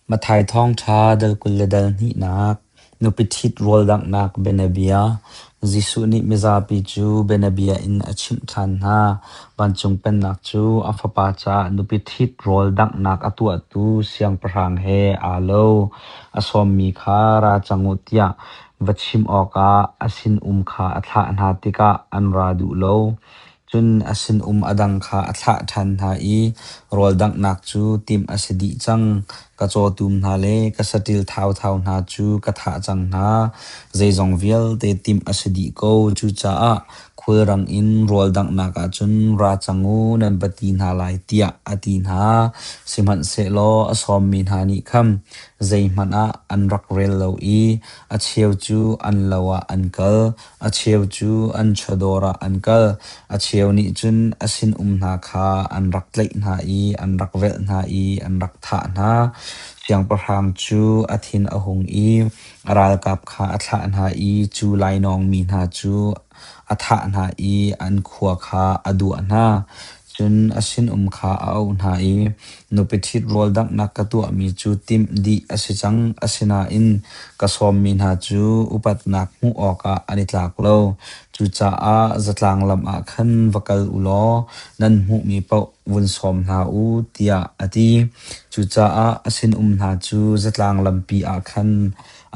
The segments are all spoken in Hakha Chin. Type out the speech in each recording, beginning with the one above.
Matthai Thawngṭha dal kul le dal hnihnak Nupi ṭhit rawldanghnak bianabia Jesuh nih mizapi cu bianabia in a chimh ṭhan hna. Vancung Pennak cu a Fapa caah nupi ṭhit rawldanghnak a tuahtu Siangpahrang he aa lo. A sawmmi kha ra cang u tiah va chim awkah a sinum kha a thlah hna tikah an ra duh lo. Cun a sinum a dang kha a thlah ṭhan hna i rawldanghnak cu timh a si dih cang. Ka cawtum hna le ka saṭil thauthau hna cu ka thah cang hna. Zeizong vialte timh a si dih ko. Cucaah khulrang in rawldanghnak ah cun ra cang u, nan va ti hna lai, tiah a ti hna. Sihmanhsehlaw a sawmmi hna nih khan zeihmanh ah an rak rel lo i a cheu cu an lo ah an kal. A cheu cu an chawdawr ah an kal. A cheu nih cun a sinum hna kha an rak tlaih hna i an rak velh hna i an rak thah hna. Siangpahrang cu a thin a hung i a ralkap kha a thlah hna i cu lainawng mi hna cu a thah hna i an khua kha a duah hna. Cun a sinum kha a auh hna i, Nupi ṭhit rawl danghnak ka tuahmi cu timh dih a si cang, asinain ka sawmmi hna cu upatnak hmuh awkah an i tlak lo. Cucaah zatlang lam ah khan va kal u law nan hmuhmi paoh vun sawm hna u, tiah a ti. Cucaah a sinum hna cu zatlang lampi ah khan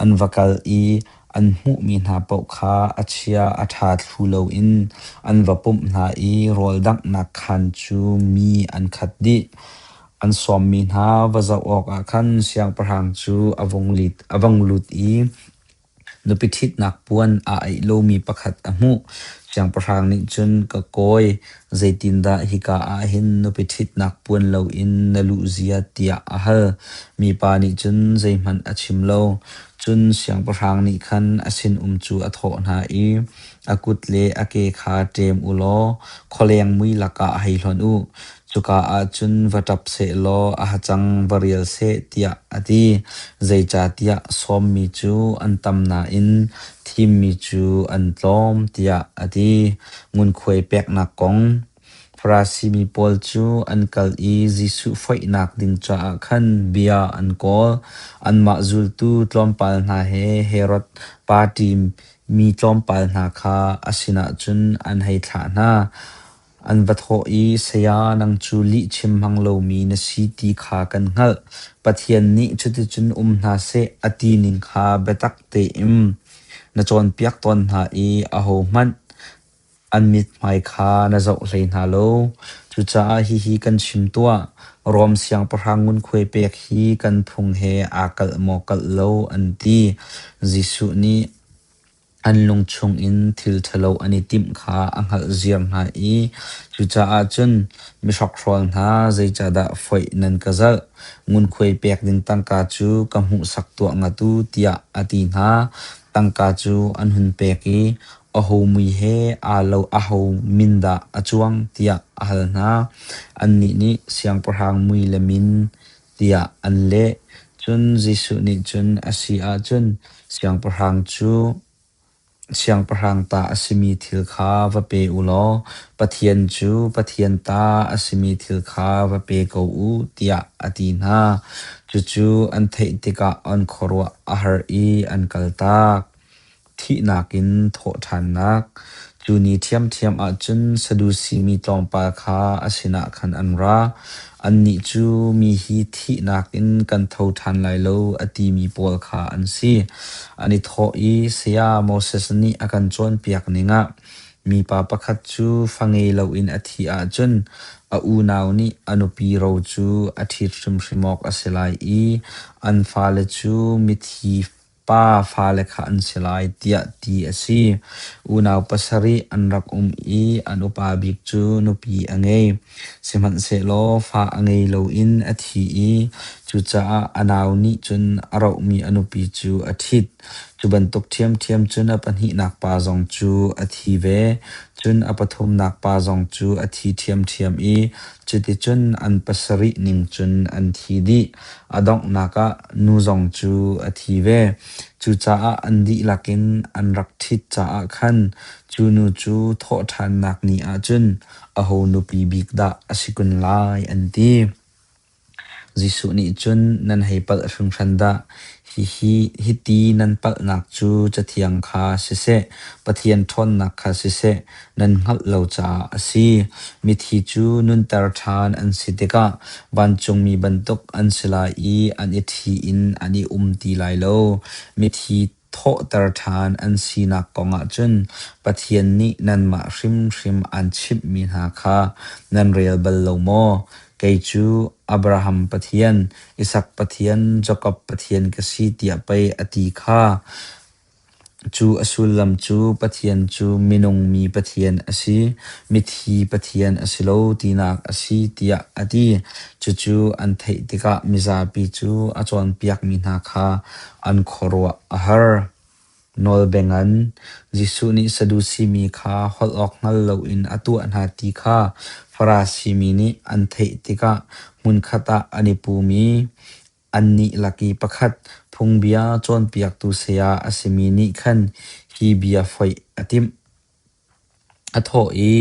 an va kal i An hmuhmi hna paoh kha a chia a ṭha thlu loin an va pumh hna i rawldanghnak khaan cu mi an khat dih. An sawmmi hna va zoh awkah khan siangpahrang cu a vung lit a vang lut i nupi ṭhitnak puan aa aih lomi pakhat a hmuh. Siangpahrang nih cun, “Ka kawi, Zeitindah hika ah hin nupi ṭhitnak puan loin na luh zia tiah a hal. Mipa nih cun zeihmanh a chim lo. Cun siangpahrang nih khan a sinum cu a thawh hna i, A kut le a ke kha ṭem u law khualeng mui lakah hei hlonh u. Cuka ah cun va ṭap seh law a hacang va rial seh tiah a ti. Zeicahtiah sawmmi cu an tam nain thimmi cu an tlawm tiah a ti. Ngunkhuai peknak kong Farasimi pawl cu an kal i Jesuh foihnak ding caah khan bia an kawl. Anmah zultu tlawmpal hna he Herod party mi tlawmpal hna kha a sinah cun an hei thlah hna. An va thawh i, Saya, nang cu lih chim hmang lomi na si ti kha kan hngalh. Pathian nih cuticun um hna seh a ti ning kha biatak tein Na cawnpiak tawn hna i ahohmanh an mithmai kha na zoh hlei hna lo. Cucaah hihi kan chim tuah, Rom siangpahrang ngunkhuai pek hi kan phung he aa kalh maw kalh lo an ti. Jesuh nih an lung chungin thil ṭhalo an i timh kha a hngalhziar hna i cucaah cun mi hrokhrawl hna zeicahdah foih nan ka zalh? Ngunkhuai pek ding tangka cu ka hmuhsak tuah ngatu tiah a ti hna. Tangka cu an hun pek i a homui he aa lo a ho min dah a cuang tiah a hal hna. Annih nih siangpahrang mui le min tiah an leh. Cun Jesuh nih cun a si ahcun siangpahrang cu Siangpahrang ta a simi thil kha va pe u law Pathian cu Pathian ta a simi thil kha va pe ko u tiah a ti hna. Cucu an theih tikah an khuaruah a har i an kaltak. Thihnak in thawhṭhannak Cu ni ṭhiamṭhiam ahcun Sadusi mi tlawmpal kha a sinah khan an ra. Annih cu mi hi thihnak in kan tho ṭhan lai lo a timi pawl kha an si. An i thawh i, Saya Moses nih a kan cawnpiak ning ah mipa pakhat cu fa ngei loin a thih ahcun a unau nih a nupi ro cu a ṭhit hrimhrim awk a si lai i an fale cu mithi pa fale kha an si lai tiah ti a si. Unau pasarih an rak um i an upa bik cu nupi a ngei. Sihmanhsehlaw fa a ngei loin a thi i cucaah a nau nih cun a rohmi a nupi cu a ṭhit. Cu bantuk ṭhiamṭhiam cun a pahnihnak pa zong cu a thi ve. Cun a pathumnak pa zong cu a thi ṭhiamṭhiam i cuticun an pasarih ning cun an thi dih. A donghnak ah nu zong cu a thi ve. Cucaah an dihlak in an rak ṭhit caah khan cu nu cu thawhṭhannak ni ahcun aho nupi bik dah a si kun lai an ti. Jesuh nih cun nan hei palh hringhran dah! Hihi hiti nan palhnak cu Cathiang kha siseh, Pathian ṭhawnnak kha siseh, nan hngalh lo caah a si. Mithi cu nunter ṭhan an si tikah vancungmi bantuk an si lai i an i ṭhi in an i um ti lai lo. Mithi thawhter ṭhan an sinak kongah cun Pathian nih nanmah hrimhrim aan chimhmi hna kha nan rel bal lo maw? Kei cu Abraham Pathian, Isak Pathian, Jakob Pathian ka si tiah pei a ti kha. Cu a sullam cu Pathian cu minung mi Pathian a si, mithi Pathian a si lo tinak a si tiah a ti. Cucu an theih tikah mizapi cu a cawnpiakmi hna kha an khuaruah a har. Nawl bengin Jesuh nih Sadusi mi kha holh awk hngal loin a tuah hna ti kha Farasi mi nih an theih tikah hmunkhat ah an i pum i annih lak i pakhat phungbia cawnpiaktu saya a simi nih khan hi bia foih a timh. A thawh i,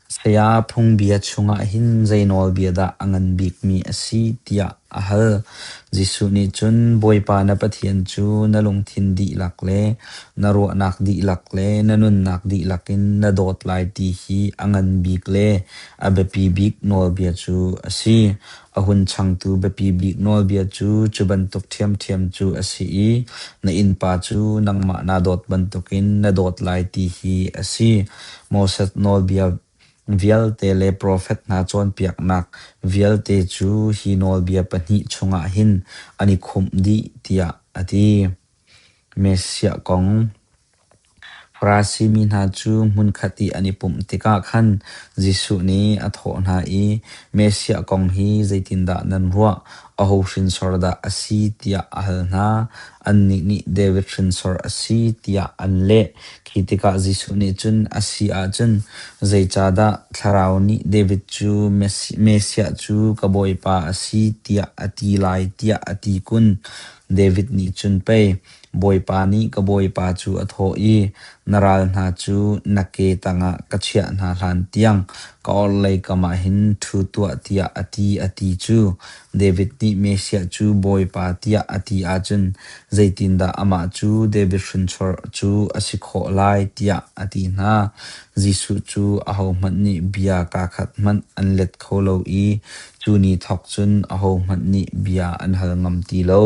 Saya Phungbia chungah hin zei nawlbia dah a ngan bikmi a si tiah a hal. Jesuh nih cun, Bawipa na Pathian cu na lungthin dihlak le na ruahnak dihlak le na nunnak dihlak in na dawt lai ti hi a ngan bik le a biapi bik nawlbia cu a si. A hun changtu biapi bik nawlbia cu cu bantuk ṭhiamṭhiam cu a si i na innpa cu nangmah naa dawt bantukin na dawt lai ti hi a si. Moses Nawlbia vialte le profet hna cawnpiaknak vialte cu hi nawlbia pahnih chungah hin an i khumh dih tiah a ti. Messiah kong Farasi mi hna cu hmunkhat i an i pumh tikah khan Jesuh nih a thawh hna i, Messiah kong hi zeitindah nan ruah? Aho hrinsor dah a si? tiah a hal hna. Annih nih, David hrinsor a si, tiah an leh. Khi tikah Jesuh nih cun, A si ahcun zeicahdah Thlarau nih David cu Messiah cu ka Bawipa a si tiah a ti lai, tiah a ti kun. David nih cun pei, Bawipa nih ka bawipa cu a thawh i, Na ral hna cu na ke tangah ka chiah hna hlantiang ka orhlei kamah hin ṭhu tuah tiah a ti, a ti cu David nih Messiah cu Bawipa tiah a ti ahcun zeitindah amah cu David hrinchuarh cu a si khawh lai tiah a ti hna. Jesuh cu ahohmanh nih bia kaa khat hmanh an let kho lo i cu ni thawk cun ahohmanh nih bia an hal ngam ti lo.